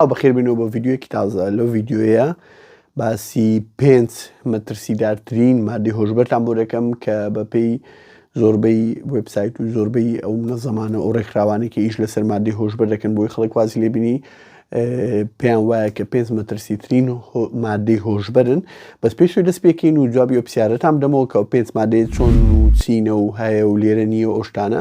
ئەو بەخێر بینەوە بۆ ڤیددیوەکی تازە لەو ڤیددیوەیە باسی پێنج مەترسیدارترین مادی هۆشبەرتان بۆ دەکەم کە بەپێی زۆربەی وبسایت و زۆربەی ئەو نەزەمانە ئەو ڕێکخراوانێکی ئیش لەسەر مادی هۆشبەر دەکەن بۆی خەڵک واز لێبینی پێیان وایە کە پێنج مەترسیترین مادەی هۆشببرن بەس پێش دەست پێکەین و جوابی و پرسیارەتان دەمەوە کە پێنج مادەیە چۆن و چینە و هەیە و لێرە نییە ئۆشتانە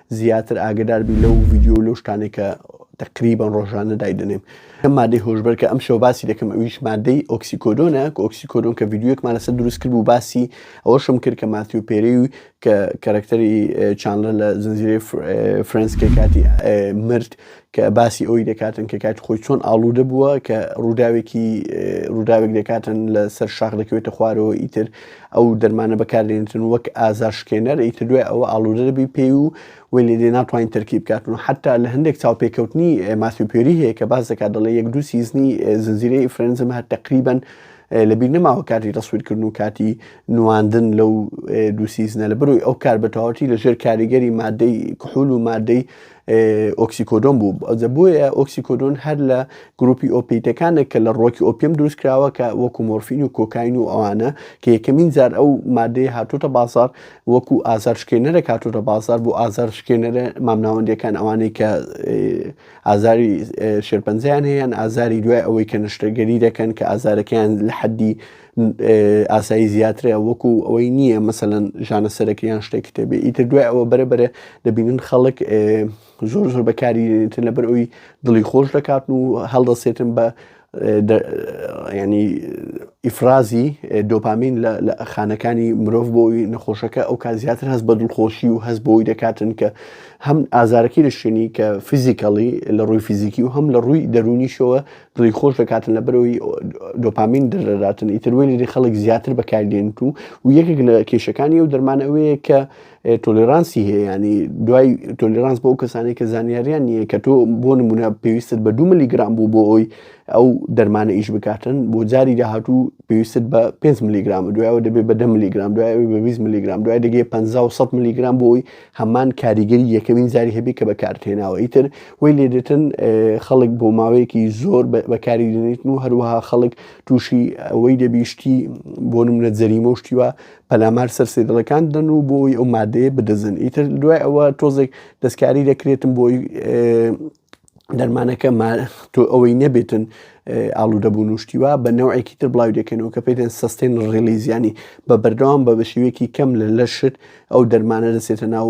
زیاتر ئاگەدار بی لەو ڤیدیۆ و لەو شتانەی کە تقریبان ڕۆژانە دایدەنێم ئەم مادەی هۆشبەر کە ئەم شەو باسی دەکەم ئەویش مادەی ئۆکسیکۆدۆنە کە ئۆکسیکۆدۆن کە ڤیددیوەکمان لەسەر دروست کرد و باسی ئەوەشم کرد کە ماتیو پێری و کە کەرەکتەری چانلە لە زنجیرەی فرەنسکە کاتی مرد کە باسی ئەوی دەکاتن کە کاتی خۆی چۆن ئاڵوودە بووە کە ڕووداوێکی ڕووداوێک دەکاتن لە سەر شاخ دەکەوێتە خوارەوە ئیتر ئەو دەرمانە بەکاردێنتن وەک ئازارشکێنەر ئیتر دوای ئەوە ئاڵوودە دەبی پێی و وی لێدێ ناتوانین تەرکی بکاتن و حتا لە هەندێک چاوپێکەوتنی ماسیپێری هەیە کە باز دەکات دەڵێ یەک دوو سیزنی زنجیرەی فرەنزم هەر تقریبن لەبییر نەماوە کاتی تەسویرکردن و کاتی نواندن لەو دووسیزنە لە بروی ئەو کار بەتەواتی لەژێر کاریگەری مادەی کحول و مادەی ئۆکسیکۆدۆن بوو ئەوجە بۆیە ئۆکسیکۆدۆن هەر لە گروپی ئۆپیتەکانە کە لە ڕۆکی ئۆپیم دروست کراوە کە وەکو مۆرفین و کۆکاین و ئەوانە کە یەکەمین جار ئەو مادەی هاتوتە بازار وەکو ئازار شکێنەرە کاتوتە بازار بۆ ئازار شکێنەرە مامناوەندەکان ئەوانەی کە ئازاری شێرپەنجیان هەیەیان ئازاری دوای ئەوەی کە نشتەگەری دەکەن کە ئازارەکەیان لە حەدی ئاسایی زیاترە وەکو ئەوەی نییە مەسەەن ژانە سەرەکەیان شتێک کتێبێ ئیتر دوای ئەوە بەرە بەرە دەبینن خەڵک زۆر زۆر بەکاریتر لەبەر ئەوی دڵی خۆش دەکات و هەڵدەسێتن بە ینی ئیفرازی دۆپامین لە خانەکانی مرۆڤ بۆی نەخۆشەکە ئەو کا زیاتر هەست بە دڵخۆشی و هەست بۆی دەکاتن کە هەم ئازارەکەی لە شوێنی کە فیزیکەڵی لە ڕووی فیزیکی و هەم لە ڕووی دەرونیشەوە دڵی خۆش دەکاتن لە بەرەوەی دۆپامین دەردەداتن ئیتر وێ لێری خەڵک زیاتر بەکاردێنت و و یەکێک لە کێشەکانی ئەو دەرمان ئەوەیە کە تۆلرانسی هەیە ینی دوای تۆلرانس بۆ کەسانی کە زانیاریان نییە کە تۆ بۆ نمونە پێویستت بە دو ملیگرام بوو بۆ ئەوی ئەو دەرمانە ئیش بکاتن بۆ جاری داهاتوو پێویستت بە 5 ملیگرام دوایەوە دەبێت بە 10 ملیگرام دوای بە 20 ملیگرام دوای دەگەێ 500 ملیگرام بۆی هەمان کاریگەری یەکەمین جاری هەبێت کە بەکارتهێناوە ئیتر وی لێدێتن خەڵک بۆ ماوەیەکی زۆر بەکاری دێنیتن و هەروەها خەڵک تووشی ئەوەی دەبیشتی بۆ منە جەریمە و شتیوە پەلامار سەر سێدڵەکان دەن و بۆی ئەو مادەیە بدەزن ئیتر دوای ئەوە تۆزێک دەستکاری دەکرێتم بۆی دەرمانەکە تۆ ئەوەی نەبێتن ئاڵوودەبوون و شتیوا بە نەوەیەکی تر بڵاو دەکەنەوە کە پێدەن سستێن ڕێلیزیانی بە بەردەوام بە بەشێوەیەکی کەم لە لەشت ئەو دەرمانە دەسێتە ناو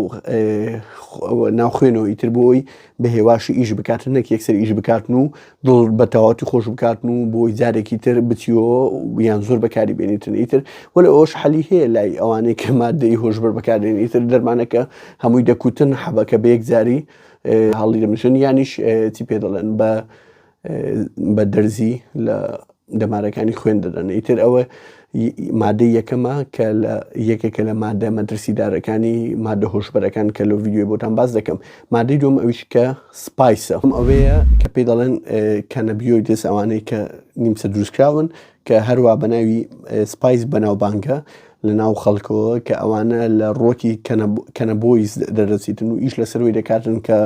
ناوخێنەوەی تر بۆی بە هێواشی ئیش بکاتن نەک یەکسەر ئیش بکاتن و دڵ بە تەواتی خۆش بکاتن و بۆی جارێکی تر بچیەوە یان زۆر بەکاری بێنیتن ئیتر وەل ئەوش حەلی هەیە لای ئەوانەی کە مادەی هۆشبەر بەکاردێن ئیتر دەرمانەکە هەمووی دەکوتن حەبەکە بە یەک جاری هەڵی دەمژن یانیش چی پێ دەڵێن بە بە دەرزی لە دەمارەکانی خوێن دەدەن ئیتر ئەوە مادەی یەکەمە کە لە یەکێکە لە مادە مەترسیدارەکانی مادە هۆشبەرەکان کە لە ویددیوی بۆتان باز دەکەم مادەی دوم ئەویش کە سپایسە ئەم ئەوەیە کە پێی دەڵێن کەنەبیۆی دەست ئەوانەی کە نیمچە دروستکراون کە هەروا بە ناوی سپایس بەناوبانگە لە ناو خەڵکەوە کە ئەوانە لە ڕۆکی کەنەبۆیس دەردەچیتن و ئیش لەسەروی دەکاتن کە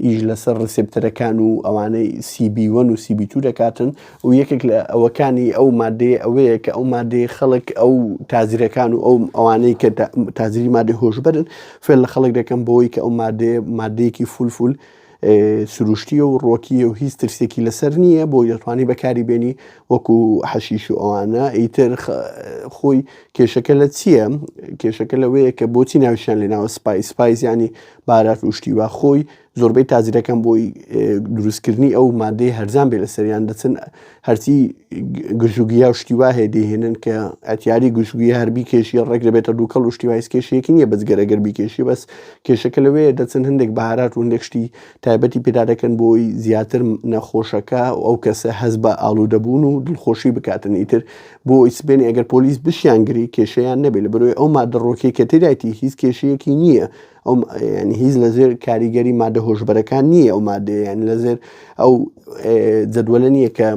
ئیش لەسەر ڕسپتەرەکان و ئەوانەی سیبیوەن و سیبی تو دەکاتن و یەکێک لە ئەوەکانی ئەو مادەیە ئەوەیە کە ئەو مادەیە خەڵک ئەو تازیرەکان و ئەو ئەوانەی کە تازری مادە هۆشبەرن فێل لە خەڵک دەکەم بۆی کە ئەو مادەیە مادەیەکی فولفول سروشتیە و ڕۆکیە و هیچ ترسێکی لەسەر نییە بۆی دەتوانانی بەکاری بێنی وەکو حەشیش و ئەوانە ئیتر خۆی کێشەکە لە چییە کێشەکە لەوەیە کە بۆچی ناویشان لێناوە سپایس سپایزیانی بارات وشتی و خۆی زۆربەی تازرەکەم بۆی دروستکردنی ئەو مادەی هەرزان بێ لەسەریان دەچن هەرچی گژوگیا و شتی واهەیە دەهێنن کە ئەتیاری گشتگوی هەربی کێشی ڕێک دەبێتە دووکەڵ و شتی وایس کێشێکی نییە بەزگەرەگەر بیکێشی بەس کێشەکە لەوەیە دەچن هەندێک بەهارات و هەندێک شتی تایبەتی پێدا دەکەن بۆی زیاتر نەخۆشەکە و ئەو کەسە هەز بە ئالوودەبوون و دڵخۆشی بکاتن ئیتر بۆ ئیسبێن ئەگەر پۆلیس بشیان گری کێشیان نەبێت لە بەرۆی ئەو مادەڕۆکێکە تێدایتی هیچ کێشەیەکی نییە ئەو ینی هیچ لە زێر کاریگەری مادە هۆشبەرەکان نییە ئەو مادەیە یان لە زێر ئەو جەدوەلە نییە کە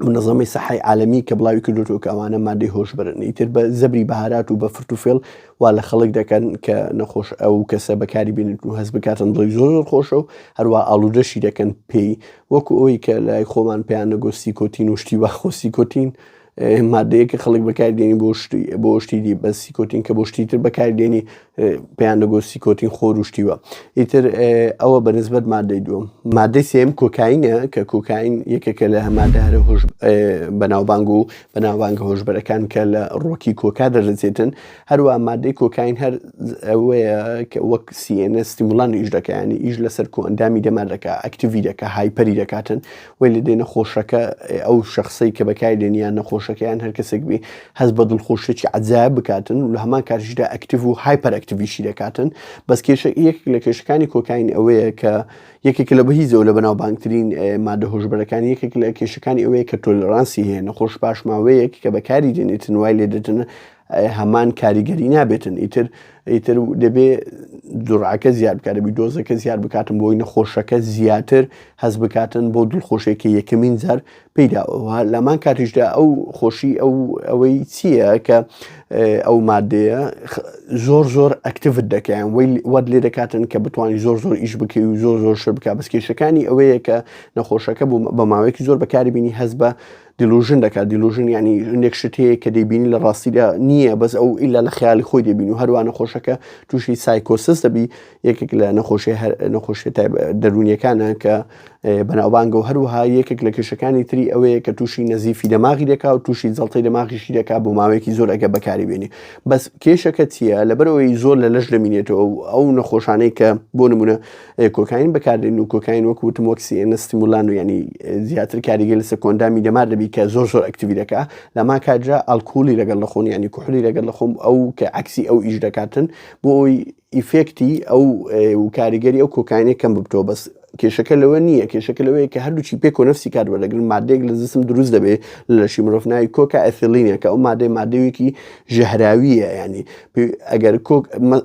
منەظەمی سەحی عالمی کە بڵاوی کردوتەوە کە ئەوانە مادەی هۆشبرن ئیتر بە زەبری بەهارات و بە فرتوفێڵ وا لە خەڵک دەکەن کە نەخۆش ئەو کەسە بەکاری بینن و هەز بکاتن دڵی زۆر زۆر خۆشە و هەروە ئالودەشی دەکەن پێی وەکو ئەوی کە لای خۆمان پێیان نەگۆستی کۆتین و شتی واخۆستی کۆتین مادەیە کە خەڵک بەکاردێنی بۆ شتی بۆ شتیدی بەسی کۆتین کە بۆ شتیتر بەکاردێنی پێیان دەگۆ سیکۆتین خۆر و شتی وە ئیتر ئەوە بە نسبەت مادەی دووەم مادەی سێم کۆکاینە کە کۆکاین یەکێکە لە هەمادە هەرە هۆش بەناوبانگ و بەناوبانگە هۆشبەرەکان کە لە ڕۆکی کۆکا دەردەچێتن هەروە مادەی کۆکاین هەر ئەوەیە کە وەک سیێنە ستیمولان ئیش دەکەیانی ئیش لەسەر کۆئەندامی دەمار دەکە ئەکتیوی دەکە هایپەری دەکاتن وەی لە دێ نەخۆشەکە ئەو شخصی کە بەکای لێن یان نەخۆشەکەیان هەر کەسێک بی هەز بە دڵخۆشێکی عجااب بکاتن و لە هەمان کاتیشدا ئەکتیڤ و هایپەر ئەکتیویشی دەکاتن بەس کێشە یەک لە کێشەکانی کۆکین ئەوەیە کە یەکێک لە بەهیزەوە لە بەناو بانگترین مادە هۆشبەرەکان یەکێک لە کێشەکانی ئەوەیە کە تۆلرانسی هەیە نەخۆش پاشماوەیەک کە بەکاری دێنێتن وای لێ دەتن هەمان کاریگەری نابێتن ئیتر ئیتر دەبێ جوڕعەکە زیاد بکات دەبی دۆزەکە زیاد بکاتن بۆی نەخۆشەکە زیاتر هەز بکاتن بۆ دڵخۆشێکی یەکەمین جار پیداەوە لەمان کاتیشدا ئەو خۆشی ئەو ئەوەی چییە کە ئەو مادەیە زۆر زۆر ئەکتیفت دەکەیان وی وەد لێ دەکاتن کە بتوانانی زۆر زۆر ئیش بکەی و زۆر زۆر شر بک بەس کێشەکانی ئەوەیە کە نەخۆشەکە بوو بە ماوەیەکی زۆر بەکاری بینی هەز بە دیلوژن دەکات دیلوژن ینی هەندێک شت هەیە کە دەیبینی لە ڕاستیدا نییە بەس ئەو ئیلا لە خیالی خۆی دەبین و هەروە نەخۆشەکە تووشی سایکۆسس دەبی یەکێک لە نەخۆشی نەخۆشی دەرونیەکانە کە بەناوبانگە و هەروەها یەکێک لە کێشەکانی تری ئەوەیە کە تووشی نەزیفی دەماغی دەکا و تووشی جڵتی دەماغیشی دەکا بۆ ماوەیەکی زۆر ئەگە بەکاری بێنی بەس کێشەکە چییە لەبەرەوەی زۆر لە لەش دەمینێتەوە ئەو نەخۆشانەی کە بۆ نمونە کۆکاین بەکاردێن و کۆکاین وەک وتم وەک CNS ستیمولان و یانی زیاتر کاریگەی لەسەر کۆندامی دەمار دەبی کە زۆر زۆر ئەکتیوی دەکا لەما کاتژە ئالکولی لەگەڵ لە خۆن ینی کوحلی لەگەڵ لە خۆم ئەو کە عکسی ئەو ئیش دەکاتن بۆ ئەوی ئیفێکتی ئەو و کاریگەری ئەو کۆکاینێک کەم ببتەوە بەس کێشەکە لەوە نییە کێشەکە لەوەیە کە هەردووچی پێک و نفسی کار وەرەگرن مادێک لە زسم دروست دەبێت لەشی مرۆڤ ناوی کۆکە ئەثلینێکە ئەو مادەی مادەوێکی ژەهراویە ینی ئەگەر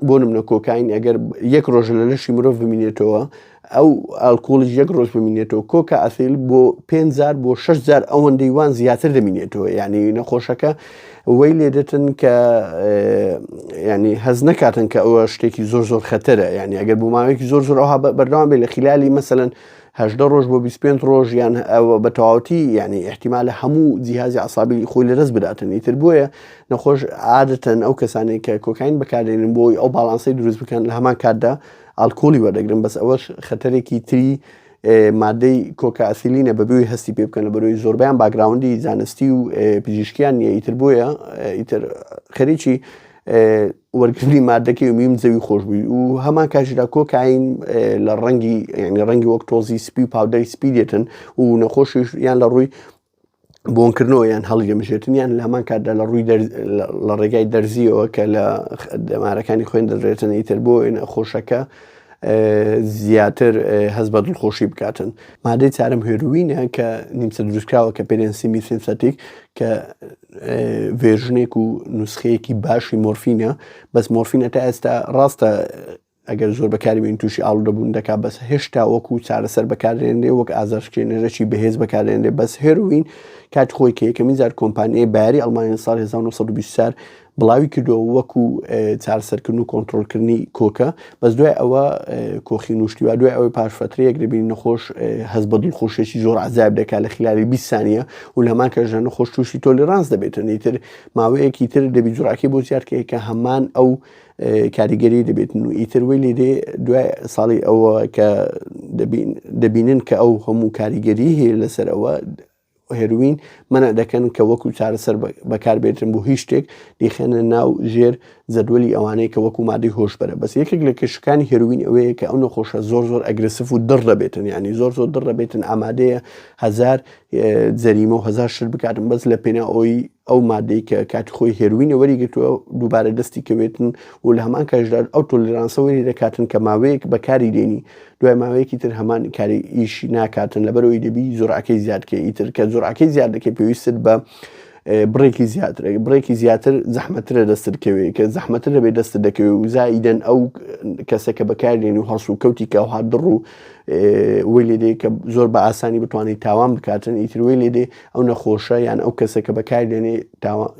بۆ منە کۆکین ئەگەر یەک ڕۆژ لە لەشی مرۆڤ بمینێتەوە ئەو ئالکۆڵی یەک ڕۆژ بمینێتەوە کۆکە ئەسیل بۆ پێزار بۆ شەشزار ئەوەن دەیوان زیاتر دەمینێتەوە یعنی نەخۆشەکە وەی لێ دەتن کە ینی هەز نەکاتن کە ئەوە شتێکی زۆر زۆر خەتەرە ینی ئەگەر بۆ ماوەیەکی زۆر زۆر ئەوها بەردەوام بێ لە خلالی مەسەن هەژدە ڕۆژ بۆ بیست پێنج ڕۆژ یان ئەوە بە تەواوەتی یعنی احتیمالە هەموو جیهازی عسابی خۆی لەدەست بداتن ئیتر بۆیە نەخۆش عادەتەن ئەو کەسانی کە کۆکاین بەکاردێنن بۆی ئەو باڵانسی دروست بکەن لە هەمان کاتدا ئالکۆلی وەردەگرن بەس ئەوەش خەتەرێکی تری مادەی کۆکاسیلینە بەبووی هەستی پێ بکەنە بەرۆی زۆربیان باگراوندی زانستی و پزیشکیان نیە ئیتر بۆیە ئیتر خەریکی وەرگرتنی مادە کێمیوم زەوی خۆشبووی و هەمان کاژدا کۆکاین لە ڕەنگی ینی ڕەنگی وەک تۆزی سپی و پاودەری سپی دێتن و نەخۆشیش یان لە ڕووی بۆنکردنەوە یان هەڵی دەمژێتنیان لە هەمان کاتدا لە ڕووی لە ڕێگای دەرزیەوە کە لە دەمارەکانی خوێن دەدرێتن ئیتر بۆ وێن خۆشەکە زیاتر هەز بە دڵخۆشی بکاتن مادەی چارم هێروینە کە نیمچە دروستکراوە کە پێرێنسی میسنسەتیک کە ڤێرژنێک و نوسخەیەکی باشی مۆرفینە بەس مۆرفینە تا ئێستا ڕاستە ئەگەر زۆر بەکاربین تووشی ئاڵ دەبوون دەکا بەس هێشتا وەکو چارەسەر بەکارێنێ وەک ئازارشکێنەرەی بەهێز بەکارێنێ بەس هێروین کات خۆی کە یەکەمی زار کۆمپانیای باری ئەلمانین سال 1920 بڵاوی کردو وەکو چارسەرکردن و کۆنتترۆلکردنی کۆکە بەس دوای ئەوە کۆخی نوشتیوا دوای ئەوەی پاش فترەیەک دەبین نەخۆش هەز بە دڵخۆشێکی زۆر عذاب دەکات لە خلالی بیسانە و لەمان کەژە نەخۆش تووشی تۆلیرانس دەبێتن ئیتر ماوەیەکی تر دەبی جوراکی بۆ زیادکەی کە هەمان ئەو کاریگەری دەبێتن و ئیتر وی لێ دێ دوای ساڵی ئەوە کە دەبینن کە ئەو هەموو کاریگەری هەیە لەسەر ئەوە هێروین مەنع دەکەن کە وەکو چارەسەر بەکاربێتن بۆ هیچ شتێک دیخێنە ناو ژێر زەدوەلی ئەوانەیە کە وەکو مادەی هۆشبەرە بەس یەکێک لە کێشەکانی هێروین ئەوەیە کە ئەو نەخۆشە زۆر زۆر ئەگرسف و دڕ دەبێتن ینی زۆر زۆر دڕ دەبێتن ئامادەیە هزار جەریمە و هزار شت بکاتن بەس لە پێنا ئەوی ئەو مادەی کە کاتی خۆی هێروینە وەری گرتووە دووبارە دەستی کەوێتن و لە هەمان کاژدا ئەو تۆلیرانسە وەری دەکاتن کە ماوەیەک بەکاری دێنی دوای ماوەیەکی تر هەمان کاری ئیش ناکاتن لەبەرەوەی دەبی زۆرعەکەی زیادکە ئیتر کە زۆرعەکەی زیاد دەکەی پێویستت بە بڕێکی زیاتر بڕێکی زیاتر زەحمەترە دەستت کەوێت کە زەحمەتر دەبێت دەست دەکەوێت و زایدەن ئەو کەسە کە بەکارێن و هەڵس و کەوتی کە هاات دڕ و وی لێ دێ کە زۆر بە ئاسانی بتوانانی تاوان بکاتن ئیتروی لێ دێ ئەو نەخۆشە یان ئەو کەسە کە بەکار دێنێ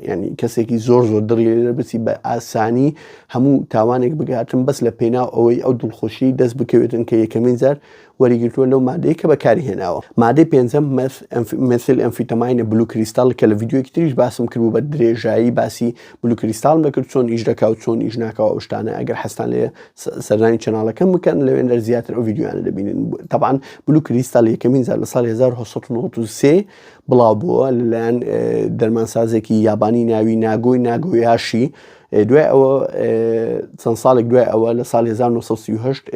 ینی کەسێکی زۆر زۆر دڕی لێ بچی بە ئاسانی هەموو تاوانێک بگاتن بەس لە پێناو ئەوەی ئەو دڵخۆشی دەست بکەوێتن کە یەکەمین جار وەریگرتووە لەو مادەی کە بەکاری هێناوە مادەی پێنجەم مەسل ئەمفیتەماینە بلو کریستال کە لە یددیوەکی تریش باسم کرد بە درێژایی باسی بلوکریستالم دەکرد چۆن ئیش دەکا و چۆن ئیش ناکەوە ئەو شتانە ئەگەر حەستان لێ سەردانی چەناڵەکەم بکەن لەوێندەر زیاتر ئەو یددیوانە دەبینن تەبان بلو کریستال یەکەمین زار لە سال 1993 بڵاو بووە لەلایەن دەرمانسازێکی یابانی ناوی ناگۆی ناگۆیاشی دوای ئەوە چەند ساڵێک دوای ئەوە لە سال 1970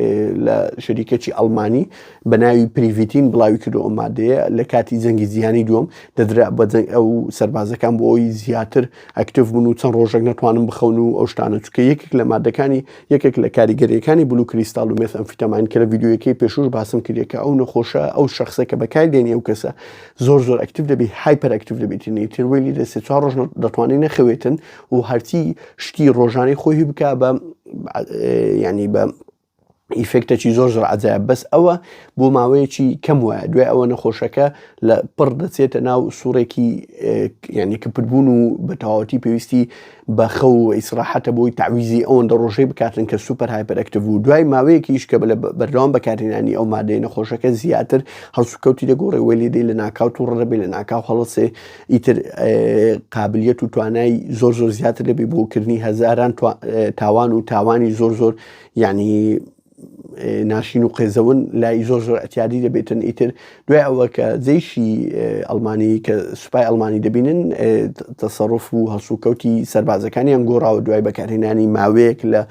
لە شەریکەی ئەلمانی بە ناوی پریڤیتین بڵاوی کردو ئەو مادەیە لە کاتی جەنگی جیهانی دووەم دەدرا بە جەنگ ئەو سەربازەکان بۆ ئەوی زیاتر ئەکتف بوون و چەند ڕۆژێک نەتوانم بخەون و ئەو شتانە چکە یەکێک لە مادەکانی یەکێک لە کاریگەریەکانی بلو کریستال و مێس ئەمفیتەماین کە لە ڤیددیویەکەی پێشوش باسم کردێت کە ئەو نەخۆشە ئەو شخصە کە بەکار دێنی ئەو کەسە زۆر زۆر ئەکتف دەبی هایپەر ئەکتف دەبیتنی تر ویلی لە سێ چوار ڕۆژ دەتوانانی نەخەوێتن و هەرچی شتی ڕۆژانەی خۆی بکە بە ینی بە ئیفێکتەکی زۆر زۆر عجایە بەس ئەوە بۆ ماوەیەکی کەم وایە دوای ئەوە نەخۆشەکە لە پڕ دەچێتە ناو سوڕێکی یعنی کپربوون و بە تەواوەتی پێویستی بە خەو و ئیسراحەتە بۆی تعویزی ئەوەن دەڕۆژەی بکاتن کە سوپەر هایپەرەکتیو و دوای ماوەیەکیش کە لە بەردەوام بەکارهێنانی ئەو مادەی نەخۆشەکە زیاتر هەڵسوکەوتی دەگۆڕێ وەی لێدەی لە ناکاوت و ڕەبێ لە ناکاو هەڵسێ ئیتر قابلیت و توانای زۆر زۆر زیاتر دەبێ بۆکردنی هەزاران تاوان و تاوانی زۆر زۆر یانی ناشین و قێزەون لای زۆر زۆر ئەتیادی دەبێتن ئیتر دوای ئەوە کە جێشی ئەلمانی کە سوپای ئەلمانی دەبینن تەسەڕف و هەڵسوکەوتی سربازەکانیان گۆڕاوە دوای بەکارهێنانی ماوەیەک لە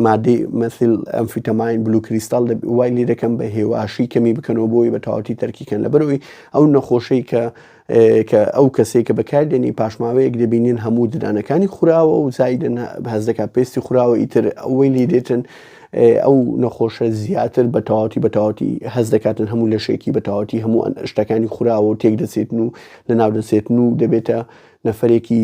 مادەی مەسیل ئەمفیتەماین بلو کریستال وای لێ دەکەم بە هێواشی کەمی بکەنەوە بۆی بە تەواتی تەرکیکەن لەبەرەوەی ئەو نەخۆشەی کە کە ئەو کەسەی کە بەکاردێنی پاش ماوەیەک دەبینین هەموو ددانەکانی خوراوە و زایدن هەست دەکات پێستی خوراوە ئیتر ئەوەی لێ دێتن ئەو نەخۆشە زیاتر بە تەواتی بە تەواتی هەز دەکاتن هەموو لەشێکی بە تەواتی هەموو شتەکانی خوراوە و تێک دەچێتن و لە ناو دەچێتن و دەبێتە نەفرێکی